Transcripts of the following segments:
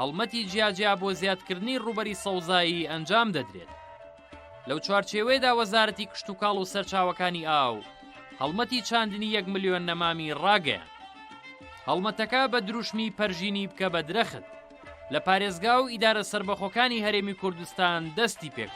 هەڵمەتی جیاجیا بۆ زیادکردنی ڕووبەری سەوزایی ئەنجام دەدرێت. لەو چوارچێوەیەدا وەزارەتی کشتوکاڵ و سەرچاوەکانی ئاو هەڵمەتی چاندنی یەک ملیۆن نەمامی ڕاگەیاند. هەڵمەتەکە بە دروشمی پەرژینی بکە بە درەخت لە پارێزگا و ئیدارە سەربەخۆکانی هەرێمی کوردستان دەستی پێکرد.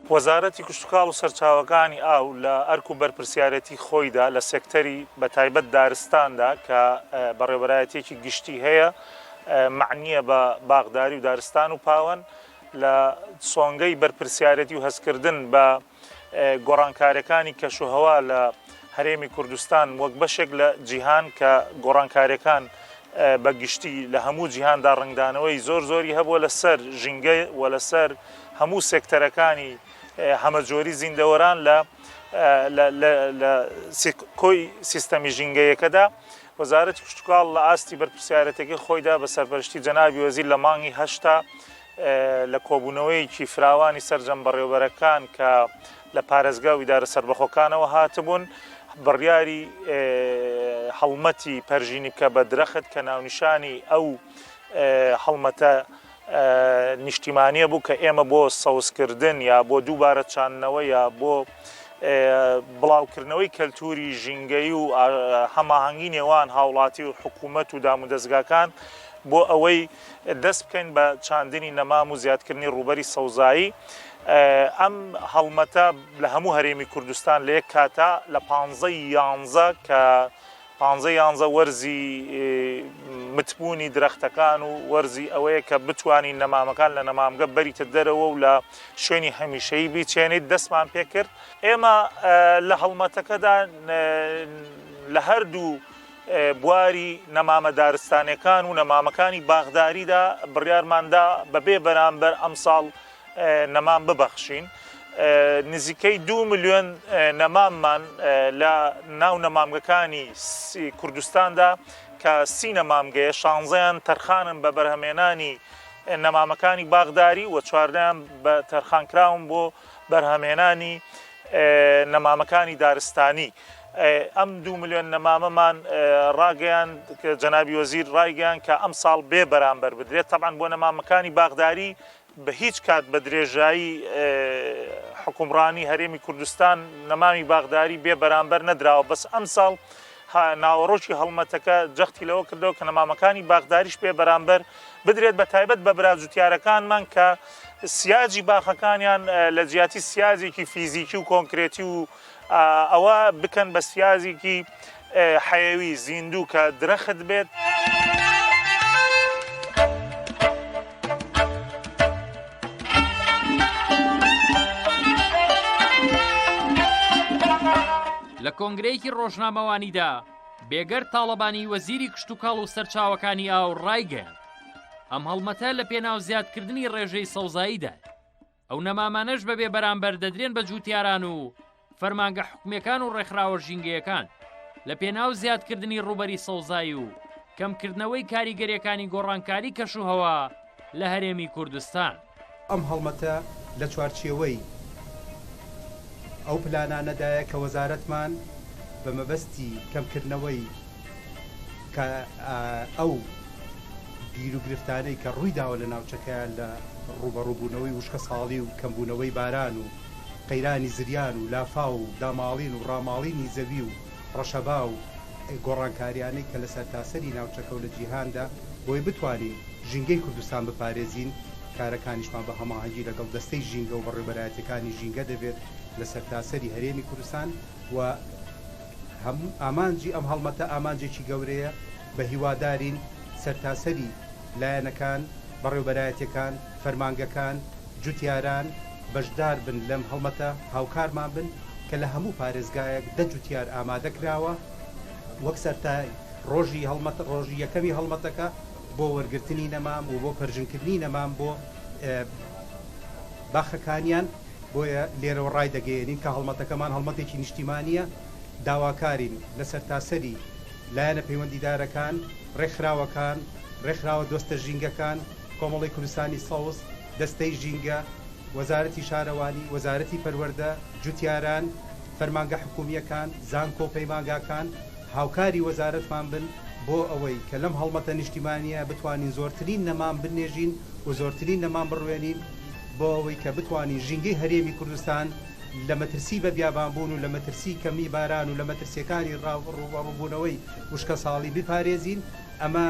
وەزارەتی کشتوکاڵ و سەرچاوەکانی ئاو لە ئەرک و بەرپرسیارێتی خۆیدا لە سێکتەری بە تایبەت دارستاندا کە بەڕێوەبەرایەتیەکی گشتی هەیە مەعنیە بە باخداری و دارستان و پاوەن لە سۆنگەی بەرپرسیارێتی و هەستکردن بە گۆڕانکارەکانی کەشوهەوا لە هەرێمی کوردستان وەک بەشێک لە جیهان کە گۆڕانکارەکان بە گشتی لە هەموو جیهاندا ڕەنگدانەوەی زۆر زۆری هەبووە لە سەر ژینگە و لە سەر هەموو سێکتەرەکانی هەمەجۆری زیندەوەران لە لە کۆی سیستەمی ژینگەیەکەدا وەزارەتی کشتتوکاڵ لە ئاستی بەرپسیارەتەکەی خۆیدا بە سەرپەرشتی جەنابی وەزیر لە مانگی هەشتا لە کۆبوونەوەیەکی فراوانی سرجەم بەڕێوبەرەکان کە لە پارێزگا و ئیدارە سربەخۆکانەوە هاتبوون بڕیاری هەڵمەتی پەرژینی بکە بە درەخت کە ناونیشانی ئەو هەڵمەتە نیشتیمانیە بوو کە ئێمە بۆ سەوزکردن یا بۆ دووبارە چاندنەوە یا بۆ بڵاوکردنەوەی کەلتوری ژینگەی و هەماهەنگی نێوان هاوڵاتی و حکوومەت و دام و دەستگاکان بۆ ئەوەی دەست بکەین بە چاندنی نەمام و زیادکردنی ڕوبەری سەوزایی ئەم هەڵمەتە لە هەموو هەرێمی کوردستان لە یەک کاتا لە پانزە یانزە کە پانزە یانزە وەرزی متبوونی درەختەکان و وەرزی ئەوەیە کە بتوانین نەمامەکان لە نەمامگە بەریتە دەرەوە و لە شوێنی هەمیشەیی بیچێنیت دەستمان پێکرد ئێمە لە هەڵمەتەکەدا لە هەردوو بواری نەمامە دارستانەکان و نەمامەکانی باخداریدا بڕیارماندا بەبێ بەرامبەر ئەمساڵ نەمام ببەخشین. نزیکەی دوو ملیۆن نەماممان لە ناو نەمامگەکانی کوردستاندا کە سی نەمامگەیە، شانزەیان تەرخانن بە بەرهەمهێنانی نەمامەکانی باخداری و چواردەیان بە تەرخانکراون بۆ بەرهەمهێنانی نەمامەکانی دارستانی. ئەم دوو ملیۆن نەمامەمان ڕاگەیاند کە جەنابی وەزیر ڕایگەیاند کە ئەمساڵ بێ بەرامبەر بدرێت، تەبعەن بۆ نەمامەکانی باخداری بە هیچ کات بە درێژایی حوکمڕانی هەرێمی کوردستان نەمامی باخداری بێ بەرامبەر نەدراوە بەس ئەمساڵ ناوەڕۆکی هەڵمەتەکە جەختی لەوە کردەوە کە نەمامەکانی باخداریش بێ بەرامبەر بدرێت بە تایبەت بە براجوتیارەکانمان کە سیاجی باخەکانیان لە جیاتی سیاجێکی فیزیکی و کۆنکرێتی و ئەوە بکەن بە سیازیکی حەیەوی زیندوو کە درەخت بێت. لە کۆنگرەیەکی ڕۆژنامەوانیدا بێگەر تاڵەبانی وەزیری کشتتوکاڵ و سەرچاوەکانی ئاو ڕایگەیان ئەم هەڵمەتە لە پێناو زیادکردنی ڕێژەی سەوزاییدا ئەو نەمامانەش بە بێ بەرامبەر دەدرێن بە جووتیاران و فەرمانگە حکومەکان و ڕێکخراوە ژینگەیەکان لە پێناو زیادکردنی ڕوبەری سەوزایی و کەمکردنەوەی کاریگەریەکانی گۆڕانکاری کەش و هەوا لە هەرێمی کوردستان. ئەم هەڵمەتە لە چوارچێوەی ئەو پلانانەدایە کە وەزارەتمان بە مەبەستی کەمکردنەوەی کە ئەو گیر و گرفتانەی کە ڕووی داوە لە ناوچەکەیان لە ڕووبەڕووبوونەوەی وشکە ساڵی و کەمبوونەوەی باران و قەیرانی زریان و لافاو و داماڵین و ڕاماڵینی زەوی و ڕەشەبا و گۆڕانکاریانەی کە لە سەرتاسەری ناوچەکە و لە جیهاندا بۆی بتوانین ژینگەی کوردستان بپارێزین کارەکانیشمان بە هەماهەنگی لەگەڵ دەستەی ژینگە و بەڕێوبەرایەتیەکانی ژینگە دەبێت لە سەرتاسەری هەرێمی کوردستان و ئامانجی ئەم هەڵمەتە ئامانجێکی گەورەیە، بە هیوادارین سەرتاسەری لایەنەکان، بەڕێوبەرایەتیەکان، فەرمانگەکان، جوتیاران بەشدار بن لەم هەڵمەتە، هاوکارمان بن کە لە هەموو پارێزگایەک دە جوتیار ئامادە کراوە، وەک سەرتای ڕۆژی هەڵمەت ڕۆژی یەکەمی هەڵمەتەکە بۆ وەرگرتنی نەمام و بۆ پەرژنکردنی نەمام بۆ باخەکانیان. بۆیە لێرەوە ڕایدەگەیەنین کە هەڵمەتەکەمان هەڵمەتێکی نیشتیمانییە، داواکارین لە سەرتاسەری لایەنە پەیوەندیدارەکان، ڕێکخراوەکان، ڕێکخراوە دۆستە ژینگەکان، کۆمەڵەی کوردستانی سەوز، دەستەی ژینگە، وەزارەتی شارەوانی، وەزارەتی پەروەردە، جوتیاران، فەرمانگە حکوومییەکان، زانکۆ و پەیمانگاکان هاوکاری وەزارەتمان بن بۆ ئەوەی کە لەم هەڵمەتە نیشتیمانییە بتوانین زۆرترین نەمام بنێژین و زۆرترین نەمام بڕوێنین. بۆ ئەوەی کە بتوانین ژینگەی هەرێمی کوردستان لە مەترسی بە بیابانبوون و لە مەترسی کەمی باران و لە مەترسیەکانی ڕووبەڕووبوونەوەی وشکەساڵی بپارێزین، ئەمە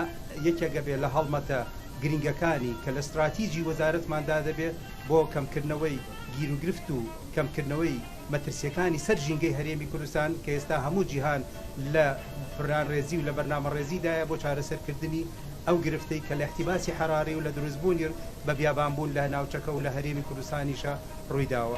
یەکێک ئەبێت لە هەڵمەتە گرنگەکانی کە لە ستراتیجی وەزارەتماندا دەبێت بۆ کەمکردنەوەی گیروگرفت و کەمکردنەوەی. مەترسیەکانی سەر ژینگەی هەرێمی کوردستان کە ئێستا هەموو جیهان لە پلانڕێزی و لە بەرنامەڕێزیدایە بۆ چارەسەرکردنی ئەو گرفتەی کە لە احتباس حراری و لە دروستبوونی بە بیابانبوون لە ناوچەکە و لە هەرێمی کوردستانیشە ڕوویداوە.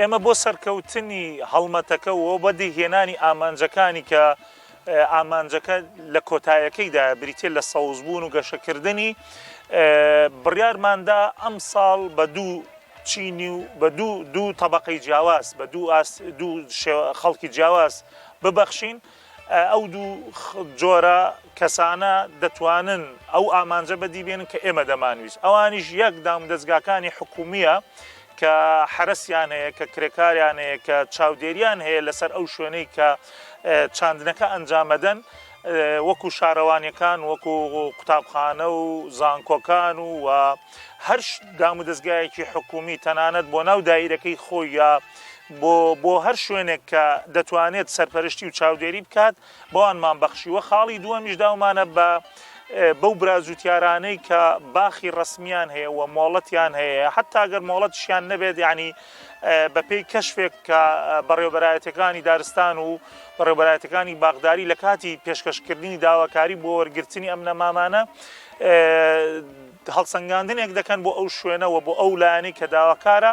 ئێمە بۆ سەرکەوتنی هەڵمەتەکە و بەدی هێنانی ئامانجەکانی کە ئامانجەکە لە کۆتایەکەیدا بریتێ لە سەوزبوون و گەشەکردنی بڕارماندا ئەم ساڵ بە دوو چینی و بە دوو دوو طبقەی جیاواز بە دوو ئاست دوو خەڵکی جیاواز ببەخشین ئەو دوو جۆرە کەسانە دەتوانن ئەو ئامانجە بەدی بێنن کە ئێمە دەمانویست ئەوانیش یەک دامودەستگاکانی حکومیە کە حرەسیان هەیە کە کرێکاریان هەیە کە چاودێریان هەیە لەسەر ئەو شوێنەی کە چاندنەکە ئەنجامەدەن وەکو شارەوانیەکان وەکو قوتابخانە و زانکۆکان و و هەر دامودەزگایەکی حکومی تەنانەت بۆ ناو دایرەکەی خۆی یا بۆ بۆ هەر شوێنێک کە دەتوانێت سەرپەرشتی و چاودێری بکات بەوانمان بەخشیوە خاڵی دووەمیش داومانە بە بەو برازوتیارانەی کە باخی ڕسمیان هەیە و مۆڵەتیان هەیە حتاگەر مۆڵەتشیان نەبێت ینی بەپێی کەشفێک کە بەڕێوبەرایەتەکانی دارستان و بەڕێبەرایەتەکانی باغداری لە کاتی پێشکەشکردنی داواکاری بۆ وەرگرتنی ئەم نەمامانە هەڵسەنگاندنێک دەکەن بۆ ئەو شوێنە و بۆ ئەو لایەنەی کە داواکارە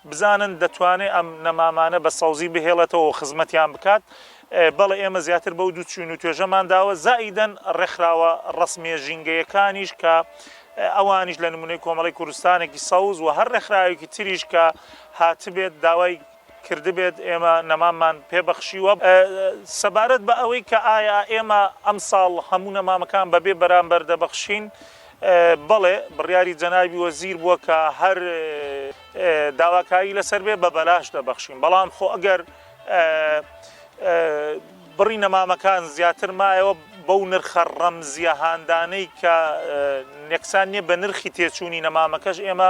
بزانن دەتوانێت ئەم نەمامانە بە سەوزی بهێڵێتەوە و خزمەتیان بکات، بەڵێ ئێمە زیاتر بەو دوو چووین و توێژەمان داوە، زائیدەن ڕێکخراوە ڕەسمییە ژینگەیەکانیش کە ئەوانیش لە نموونەی کۆمەڵەی کوردستانێکی سەوز و هەر ڕێکخراوێکی تریش کە هاتبێت داوای کردبێت ئێمە نەماممان پێ بەخشیوە. سەبارەت بە ئەوەی کە ئایا ئێمە ئەمساڵ هەموو نەمامەکان بە بێ بەرامبەر دەبەخشین؟ بەڵێ بڕیاری جەنابی وەزیر بووە کە هەر داواکاری لەسەر بێ بە بەلاش دەبەخشین بەڵام خۆ ئەگەر بڕی نەمامەکان زیاتر مایەوە بەو نرخە ڕەمزیە هاندانەی کە نێکسان نیە بە نرخی تێچووی نەمامەکەش ئێمە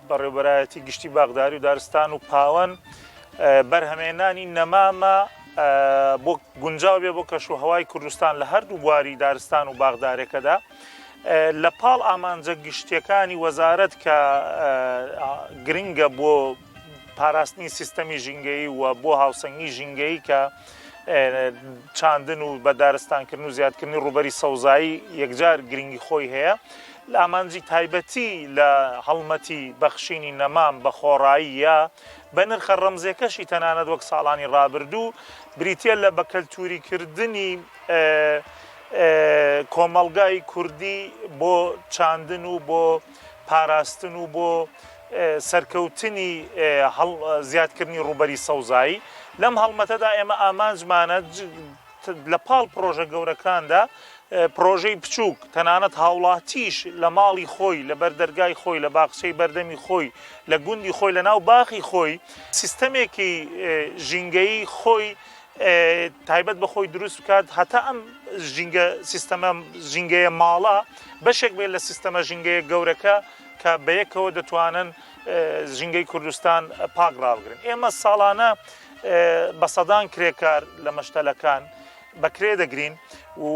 بەڕێوبەرایەتی گشتی باخداری و دارستان و پاوەن بەرهەمێنانی نەمامە بۆ گونجاو بێ بۆ کەش و هەوای کوردستان لە هەردوو بواری دارستان و باغدارێکەدا لە پاڵ ئامانجە گشتیەکانی وەزارەت کە گرنگە بۆ پاراستنی سیستەمی ژینگەی و بۆ هاوسەنگی ژینگەی کە چاندن و بە دارستانکردن و زیادکردنی ڕوبەری سەوزایی یەکجار گرنگی خۆی هەیە لە ئامانجی تایبەتی لە هەڵمەتی بەخشینی نەمام بە خۆڕایی یا بە نرخە ڕەمزێکەشی تەنانەت وەک ساڵانی ڕابردوو بریتیە لە بە کەلتوری کردنی کۆمەڵگای کوردی بۆ چاندن و بۆ پاراستن و بۆ سەرکەوتنی زیادکردنی ڕووبەری سەوزایی لەم هەڵمەتەدا ئێمە ئامانجمانە لە پاڵ پڕۆژە گەورەکاندا پڕۆژەی بچووک تەنانەت هاوڵاتیش لە ماڵی خۆی لە بەر دەرگای خۆی لە باخچەی بەردەمی خۆی لە گوندی خۆی لە ناو باخی خۆی سیستەمێکی ژینگەی خۆی تایبەت بە خۆی دروست بکات هەتا ئەم ژینگە سیستەمە ژینگەیە ماڵە بەشێک بێت لە سیستەمە ژینگەیە گەورەکە کە بەیەکەوە دەتوانن ژینگەی کوردستان پاک ڕاوگرن ئێمە ساڵانە بە سەدان کرێکار لە مەشتەلەکان بەکرێ دەگرین و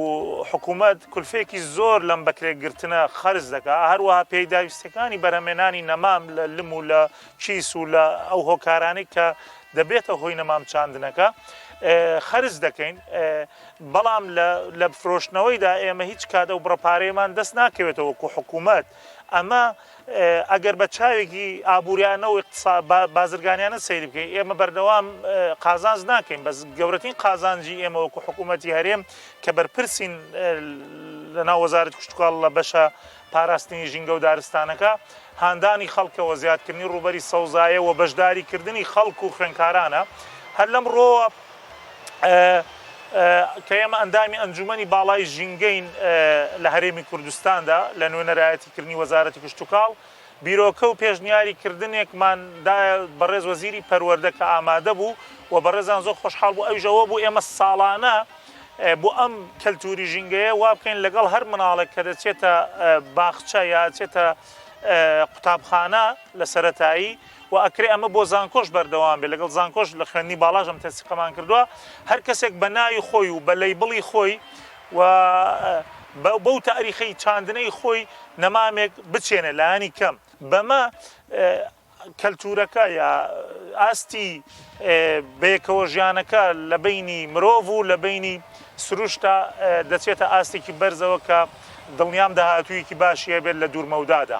حکوومەت کولفێکی زۆر لەم بەکرێگرتنە خەرز دەکا هەروەها پێداویستەکانی بەرەمێنانی نەمام لە لم و لە کیس و لە ئەو هۆکارانی کە دەبێتە هۆی نەمام چاندنەکە خەرز دەکەین بەڵام لە فرۆشتنەوەیدا ئێمە هیچ کاتە و بڕپارەیەمان دەست ناکەوێتەوە وەکو حکوومەت ئەمە ئەگەر بە چاوێکی ئابووریانە و بازرگانیانە سەیری بکەین، ئێمە بەردەوام قازانج ناکەین، بەس گەورەترین قازانجی ئێمە وەکو حکوومەتی هەرێم کە بەرپرسین لەناو وەزارەتی کشتوکاڵ لە بەشە پاراستنی ژینگە و دارستانەکە، هاندانی خەڵکە و زیادکردنی ڕووبەری سەوزایە و بەشداریکردنی خەڵک و خوێندکارانە، هەر لەم ڕووەوە کە ئێمە ئەندامی ئەنجوومەنی باڵای ژینگەین لە هەرێمی کوردستاندا لە نوێنەرایەتی. کردنی وەزارەتی کشتوکاڵ بیرۆکە و پێشنیاری کردنێکمان دایە بەڕێز وەزیری پەروەردە کە ئامادە بوو و بەڕێزان زۆر خۆشحاڵ بوو ئەویش ئەوە بوو ئێمە ساڵانە بۆ ئەم کەلتوری ژینگەیە وا بکەین لەگەڵ هەر مناڵێک کە دەچێتە باخچە یا چێتە قوتابخانە لە سەتایی و ئەکرێ ئەمە بۆ زانکۆش بەردەوام بێ لەگەڵ زانکۆش لە خوێندنی باڵاژم تەسیقەمان کردووە هەر کەسێک بە ناوی خۆی و بە لەی بڵی خۆی و بەو تاریخەی چاندنەی خۆی نەمامێک بچێنێ لانی کەم بەمە کەلتورەکە یا ئاستی بەیەکەوە ژیانەکە لە بینی مرۆڤ و لە بینی سروشتا دەچێتە ئاستێکی بەرزەوە کە دڵنیام داهاتوویەکی باشی هەبێت لە دوورمەودادا.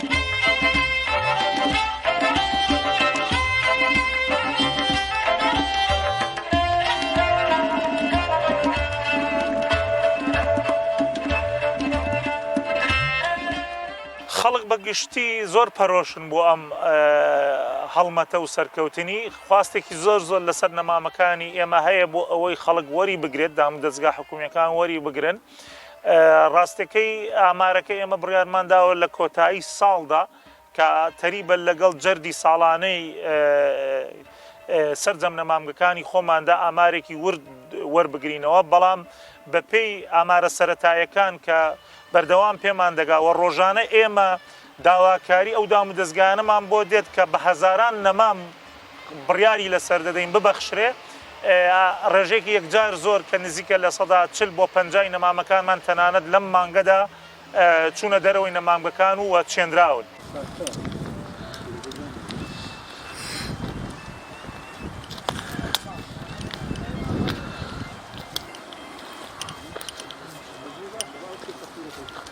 خەڵک بە گشتی زۆر پەرۆشن بۆ ئەم هەڵمەتە و سەرکەوتنی خواستێکی زۆر زۆر لەسەر نەمامەکانی ئێمە هەیە بۆ ئەوەی خەڵک وەری بگرێت دام دەستگا حکومیەکان وەری بگرن ڕاستەکەی ئامارەکە ئێمە بڕیارمان داوە لە کۆتایی ساڵدا کە تەریبە لەگەڵ جەردی ساڵانەی سەرجەم نەمامگەکانی خۆماندا ئامارێکی ورد وەربگرینەوە بەڵام بەپێی ئامارە سەتایەکان کە بەردەوام پێمان دەگاوە ڕۆژانە ئێمە داواکاری ئەو دامودەزگایانەمان بۆ دێت کە بە هەزاران نەمام بڕیاری لەسەر دەدەین ببەخشرێ ڕێژێکی یەکجار زۆر کە نزیکە لە سەدا چل بۆ پەنجای نەمامەکانمان تەنانەت لەم مانگەدا چوونە دەرەوەی نەمامگەکان و وە چێنراون.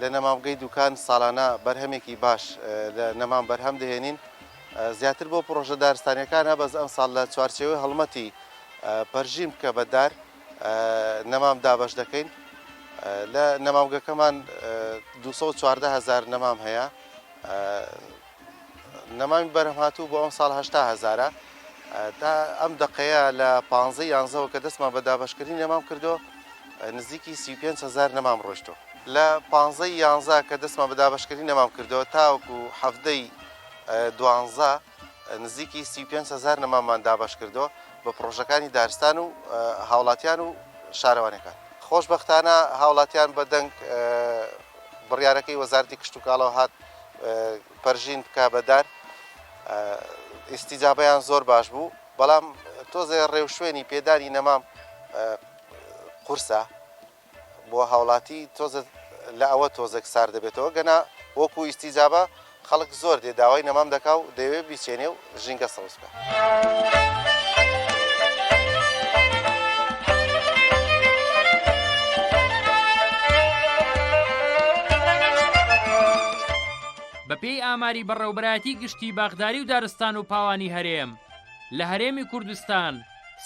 لە نەمامگەی دوکان ساڵانە بەرهەمێکی باش لە نەمام بەرهەم دەهێنین زیاتر بۆ پڕۆژە دارستانیەکانە بەس ئەمساڵ لە چوارچێوەی هەڵمەتی پەرژین بکە بەدار نەمام دابەش دەکەین لە نەمامگەکەمان 214 هزار نەمام هەیە نەمامی بەرهەمهاتوو بۆ ئەمساڵ هەشتا هەزارە. تا ئەم دەقەیە لە پانزەی یانزەوە کە دەستمان بە دابەشکردنی نەمام کردو نزیکی سی و پێنج هەزار نەمام ڕۆیشتووە. لە پانزەی یانزە کە دەستمان بە دابەشکردنی نەمام کردووە تاوەکو حەفتەی دوانزە نزیکی سی و پێنج هەزار نەماممان دابەش کردووە بە پڕۆژەکانی دارستان و هاوڵاتیان و شارەوانیەکان. خۆشبەختانە هاوڵاتیان بە دەنگ بڕیارەکەی وەزارەتی کشتوکاڵەوە هات. پەرژین بکا بە دار ئیسیجابیان زۆر باش بوو بەڵام تۆزێ ڕێوشوێنی پێدانی نەمام قورسە بۆ هاوڵاتی تۆزە لە ئەوە تۆزێک سار دەبێتەوە گەنا وەکو ئیسیجابە خەڵک زۆر دێ داوای نەمام دەکا و دەوێ بیچێنێ و ژینگە سەوز بێت. بەپێی ئاماری بەڕێوەبەرایەتی گشتی باخداری و دارستان و پاوانی هەرێم، لە هەرێمی کوردستان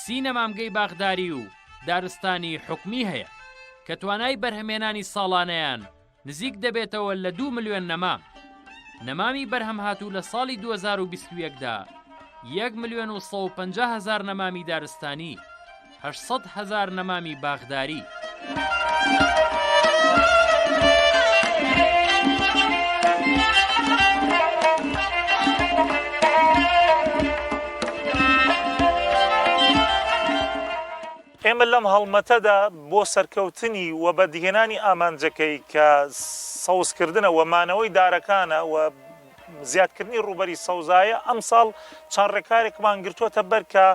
سی نەمامگەی باخداری و دارستانی حکومی هەیە، کە توانای بەرهەمهێنانی ساڵانەیان نزیک دەبێتەوە لە دوو ملیۆن نەمام. نەمامی بەرهەمهاتوو لە ساڵی دوو هەزار و بیست و یەک دا، یەک ملیۆن و سەد و پەنجا هەزار نەمامی دارستانی، هەشت سەد هەزار نەمامی باخداری. ئێمە لەم هەڵمەتەدا بۆ سەرکەوتنی و بەدیهێنانی ئامانجەکەی کە سەوزکردنە و مانەوەی دارەکانە و زیادکردنی ڕووبەری سەوزایە، ئەمساڵ چەند ڕێکارێکمان گرتووەتە بەر کە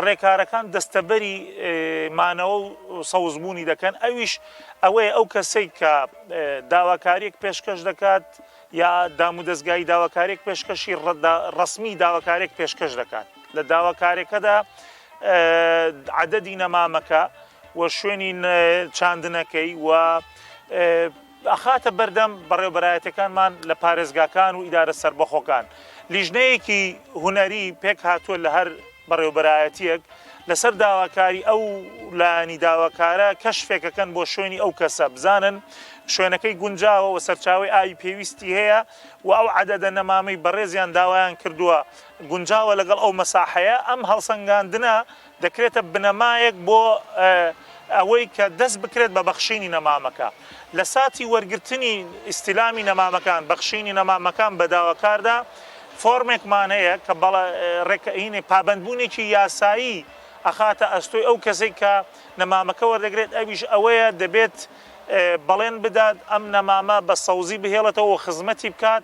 ڕێکارەکان دەستەبەری مانەوە و سەوزبوونی دەکەن، ئەویش ئەوەیە ئەو کەسەی کە داواکارییەک پێشکەش دەکات یا دامودەزگایی داواکارییەک پێشکەشی ڕەسمی داواکارییەک پێشکەش دەکات، لە داواکارییەکەدا عەدەدی نەمامەکە و شوێنی چاندنەکەی و ئەخاتە بەردەم بەڕێوبەرایەتەکانمان لە پارێزگاکان و ئیدارە سربەخۆکان لیژنەیەکی هوەری پێک هاتووە لە هەر بەڕێوبەرایەتیەک لەسەر داواکاری ئەو لانی داواکارە کەشفێکەکەن بۆ شوێنی ئەو کەسە بزانن شوێنەکەی گونجاوە و سەرچاوی ئاوی پێویستی هەیە و ئەو عادەدە نەمامەی بەڕێزیان داوایان کردووە گونجاوە لەگەڵ ئەو مەساحەیە، ئەم هەڵسەنگاندنە دەکرێتە بنەمایەک بۆ ئەوەی کە دەست بکرێت بە بەخشینی نەمامەکە. لە ساتی وەرگرتنی، استلامی، نەمامەکان، بەخشینی نەمامەکان بە داواکاردا، فۆرمێکمان هەیە کە بەڵێ، پابەندبوونێکی یاسایی ئەخاتە ئەستۆی ئەو کەسەی کە نەمامەکە وەردەگرێت، ئەویش ئەوەیە دەبێت بەڵێن بدات ئەم نەمامە بە سەوزی بهێڵێتەوە و خزمەتی بکات،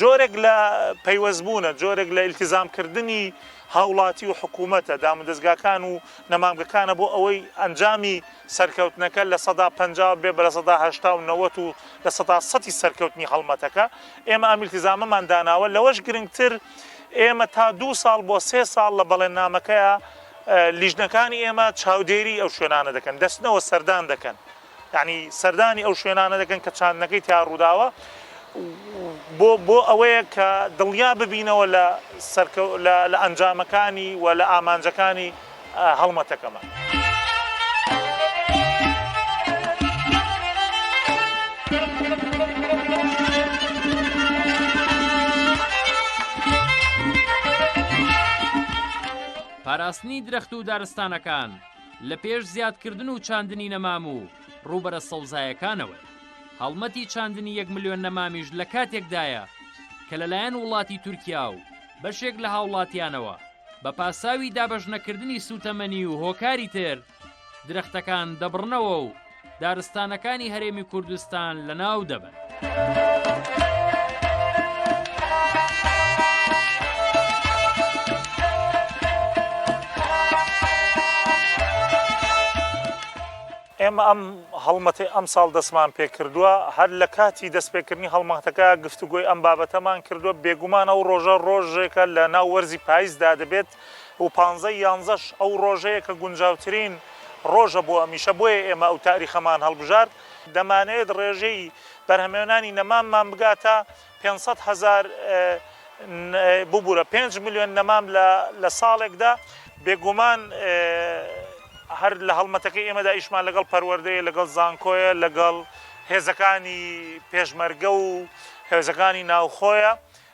جۆرێک لە پەیوەستبوونە، جۆرێک لە ئیلتیزامکردنی هاوڵاتی و حکوومەتە، دامودەزگاکان و نەمامگەکانە بۆ ئەوەی ئەنجامی سەرکەوتنەکە لە سەدا پەنجا بێ بە لە سەدا هەشتا و نەوەت و لە سەدا سەتی سەرکەوتنی هەڵمەتەکە. ئێمە ئەم ئیلتیزامەمان داناوە، لەوەش گرنگتر ئێمە تا دوو ساڵ بۆ سێ ساڵ لە بەڵێننامەکەیە لیژنەکانی ئێمە چاودێریی ئەو شوێنانە دەکەن، دەچنەوە سەردان دەکەن. یەعنی سەردانی ئەو شوێنانە دەکەن کە چاندنەکەی تیا ڕووداوە بۆ بۆ ئەوەیە کە دڵنیا ببینەوە لە سەرکە لە لە ئەنجامەکانی و لە ئامانجەکانی هەڵمەتەکەمان. پاراستنی درەخت و دارستانەکان. لە پێش زیادکردن و چاندنی نەمام و ڕووبەرە سەوزایەکانەوە. هەڵمەتی چاندنی یەک ملیۆن نەمامیش لە کاتێکدایە کە لەلایەن وڵاتی تورکیا و بەشێک لە هاوڵاتیانەوە بە پاساوی دابەشنەکردنی سووتەمەنی و هۆکاری تر درەختەکان دەبڕنەوە و دارستانەکانی هەرێمی کوردستان لەناو دەبن. ئێمە ئەم هەڵمەتی ئەم ساڵ دەستمان پێکردووە هەر لە کاتی دەستپێکردنی هەڵمەتەکە گفتوگۆی ئەم بابەتەمان کردووە بێگومان ئەو ڕۆژە ڕۆژێکە لە ناو وەرزی پاییزدا دەبێت و پانزە ی یانزەش ئەو ڕۆژەیە کە گونجاوترین ڕۆژە بۆ ئەمیشە بۆیە ئێمە ئەو تاریخەمان هەڵبژارد. دەمانەوێت ڕێژەی بەرهەمێنانی نەماممان بگاتە پێنج سەد هەزار ببورە پێنج ملیۆن نەمام لە ساڵێکدا، بێگومان هەر لە هەڵمەتەکەی ئێمەدا ئیشمان لەگەڵ پەروەردەیە، لەگەڵ زانکۆیە، لەگەڵ هێزەکانی پێشمەرگە و هێزەکانی ناوخۆیە،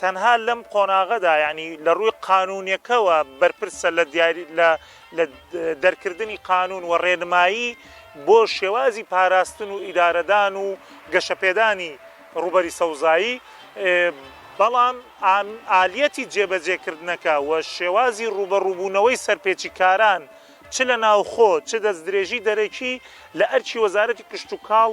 تەنها لەم قۆناغەدا یانی لە ڕووی قانونیەکەوە بەرپرسە لە دیاری لە لە دەرکردنی قانون و ڕێنمایی بۆ شێوازی پاراستن و ئیدارەدان و گەشەپێدانی ڕوبەری سەوزایی بەڵام ئالیەتی جێبەجێکردنەکە و شێوازی ڕوبەڕوبوونەوەی سەرپێچی کاران چ لە ناوخۆ چ دەست درێژی دەرەکی لە ئەرکی وەزارەتی کشتوکاڵ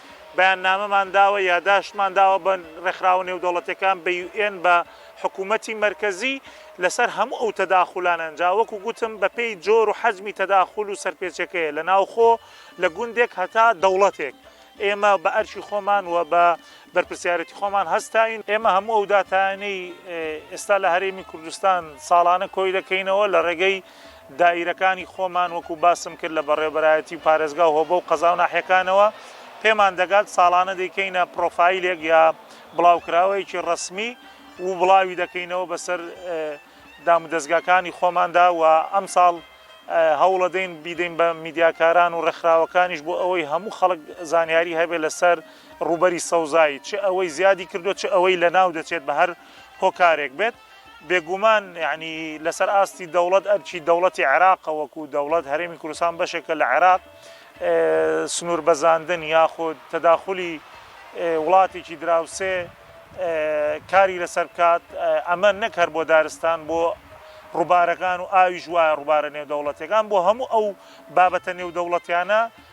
بەیاننامەمان داوە، یاداشتمان داوە بە ڕێکخراوە نێودەوڵەتیەکان، بە یو ئێن، بە حکومەتی مەرکەزی لەسەر هەموو ئەو تەداخولانەن، جا وەکو گوتم بەپێی جۆر و حەجمی تەداخول و سەرپێچیەکەیە لە ناوخۆ لە گوندێک هەتا دەوڵەتێک، ئێمە بە ئەرکی خۆمان و بە بەرپرسیارێتی خۆمان هەستاوین، ئێمە هەموو ئەو داتایانەی ئێستا لە هەرێمی کوردستان ساڵانە کۆی دەکەینەوە لە ڕێگەی دایرەکانی خۆمان وەکو باسم کرد لە بەڕێوەبەرایەتی و پارێزگا و هۆبە و قەزا و ناحیەکانەوە پێمان دەگات ساڵانە دەیکەینە پڕۆفایلێک یا بڵاوکراوەیەکی ڕەسمی و بڵاوی دەکەینەوە بەسەر دامودەزگاکانی خۆماندا و ئەمساڵ هەوڵەدەین بیدەین بە میدیاکاران و ڕێکخراوەکانیش بۆ ئەوەی هەموو خەڵک زانیاری هەبێت لەسەر ڕوبەری سەوزایی چ ئەوەی زیادی کردو چ ئەوەی لە ناو دەچێت بە هەر هۆکارێک بێت. بێگومان یەعنی لەسەر ئاستی دەوڵەت ئەرکی دەوڵەتی عێراقە وەکو دەوڵەت هەرێمی کوردستان بەشێکە لە عێراق سنوور بەزاندن یاخود تەداخلی وڵاتێکی دراوسێ کاری لەسەر بکات ئەمە نەک هەر بۆ دارستان بۆ ڕووبارەکان و ئاویش وایە ڕووبارە نێودەوڵەتەکان بۆ هەموو ئەو بابەتە نێودەوڵەتیانە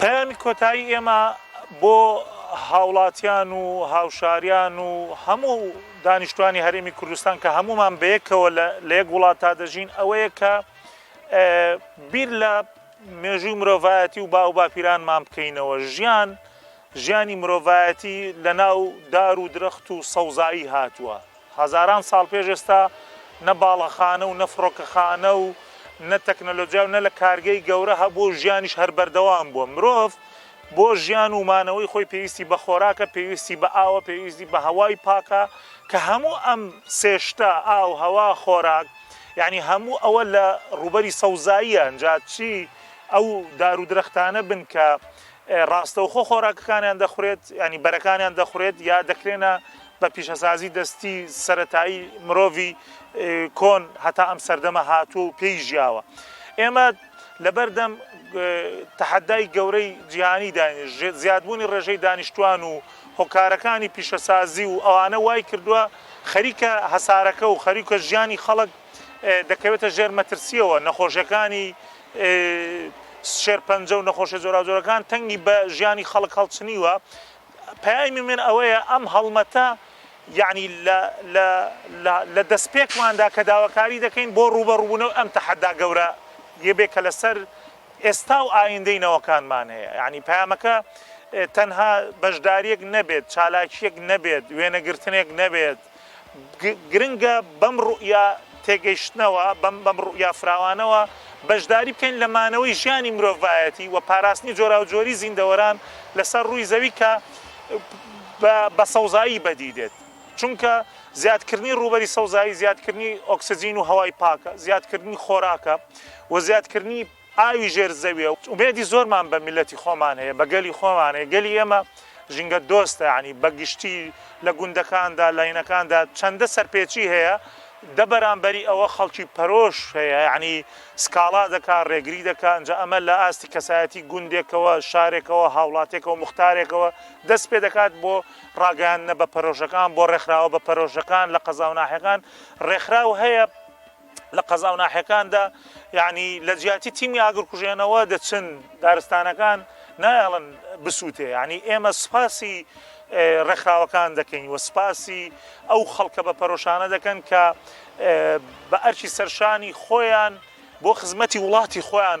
پەیامی کۆتایی ئێمە بۆ هاوڵاتیان و هاوشاریان و هەموو دانیشتوانی هەرێمی کوردستان کە هەمومان بەیەکەوە لە یەک وڵات تا دەژین ئەوەیە کە بیر لە مێژووی مرۆڤایەتی و باو باپیرانمان بکەینەوە ژیان ژیانی مرۆڤایەتی لە ناو دار و درەخت و سەوزایی هاتووە. هەزاران ساڵ پێش ئێستا نە باڵەخانە و نە فڕۆکەخانە و نە تەکنەلۆجیا و نە لە کارگەی گەورە هەبووە و ژیانیش هەر بەردەوام بووە. مرۆڤ بۆ ژیان و مانەوەی خۆی پێویستی بە خۆراکە، پێویستی بە ئاوە، پێویستی بە هەوای پاکە کە هەموو ئەم سێ شتە، ئاو، هەوا، خۆراک، یانی هەموو ئەوە لە ڕووبەری سەوزاییە ئنجا چی ئەو دار و درەختانە بن کە ڕاستەوخۆ خۆراکەکانیان دەخورێت، یانی بەرەکانیان دەخورێت یا دەکرێنە بە پیشەسازی دەستی سەرەتایی مرۆڤی کۆن هەتا ئەم سەردەمە هاتووە و پێی ژیاوە. ئێمە لەبەردەم تەحەدای گەورەی جیهانی داین زیادبوونی ڕێژەی دانیشتوان و هۆکارەکانی پیشەسازی و ئەوانە وای کردووە خەریکە هەسارەکە و خەریکە ژیانی خەڵک دەکەوێتە ژێر مەترسیەوە نەخۆشیەکانی شێرپەنجە و نەخۆشیە جۆراوجۆرەکان تەنگی بە ژیانی خەڵک هەڵچنیوە، پەیامی من ئەوەیە ئەم هەڵمەتە یەعنی لە دەستپێکماندا کە داواکاری دەکەین بۆ ڕووبەڕووبوونەوەی ئەم تەحەدا گەورە یە بێ کە لەسەر ئێستا و ئایندەی نەوەکانمان هەیە، یەعنی پەیامەکە تەنها بەشدارییەک نەبێت، چالاکییەک نەبێت، وێنەگرتنێک نەبێت، گرنگە بەم ڕوئیا تێگەیشتنەوە، بەم ڕوئیا فراوانەوە بەشداری بکەین لە مانەوەی ژیانی مرۆڤایەتی و پاراستنی جۆراوجۆریی زیندەوەران لەسەر ڕووی زەوی کە بە سەوزایی بەدی دێت، چونکە زیادکردنی ڕووبەری سەوزایی زیادکردنی ئۆکسجین و هەوای پاکە، زیادکردنی خۆراکە و زیادکردنی. ئاوی ژێر زەویە ئومێدی زۆرمان بە میلەتی خۆمان هەیە بە گەلی خۆمان هەیە گەلی ئێمە ژینگە دۆستە یانی بەگشتی لە گوندەکاندا لاینەکاندا چەندە سەرپێچی هەیە دە بەرامبەری ئەوە خەڵکی پەرۆش هەیە یعنی سکاڵا دەکا ڕێگری دەکا ئەنجا ئەمە لە ئاستی کەسایەتی گوندێکەوە شارێکەوە هاوڵاتێکەوە مختارێکەوە دەست پێ دەکات بۆ ڕاگەیاندنە بە پەرۆشەکان بۆ ڕێکخراوە بە پەرۆشەکان لە قەزاوناحەکان ڕێکخراو هەیە لە قەزاو ناحیەکاندا یعنی لە جیاتی تیمی ئاگرکوژێنەوە دەچن دارستانەکان نایەڵن بسووتێ یعنی ئێمە سوپاسی ڕێکخراوەکان دەکەین و سپاسی ئەو خەڵکە بە پەرۆشانە دەکەن کە بە ئەرکی سەرشانی خۆیان بۆ خزمەتی وڵاتی خۆیان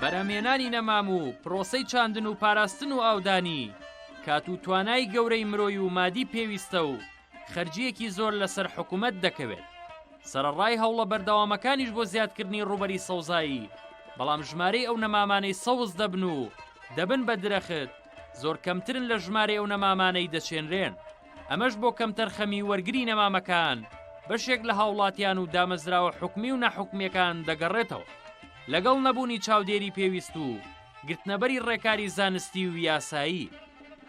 بەرهەمهێنانی نەمام و پرۆسەی چاندن و پاراستن و ئاودانی، کات و توانای گەورەی مرۆی و مادی پێویستە و خەرجییەکی زۆر لەسەر حکومەت دەکەوێت. سەرەڕای هەوڵە بەردەوامەکانیش بۆ زیادکردنی ڕووبەری سەوزایی، بەڵام ژمارەی ئەو نەمامانەی سەوز دەبن و دەبن بە درەخت، زۆر کەمترن لە ژمارەی ئەو نەمامانەی دەچێنرێن. ئەمەش بۆ کەمتەرخەمی وەرگری نەمامەکان بەشێک لە هاوڵاتیان و دامەزراوە حکومی و ناحکومییەکان دەگەڕێتەوە. لەگەڵ نەبوونی چاودێری پێویست و گرتنەبەری ڕێکاری زانستی و یاسایی،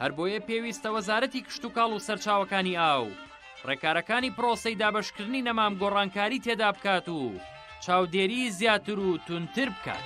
هەر بۆیە پێویستە وەزارەتی کشتوکاڵ و سەرچاوەکانی ئاو ڕێکارەکانی پڕۆسەی دابەشکردنی نەمام گۆڕانکاری تێدا بکات و چاودێری زیاتر و تونتر بکات.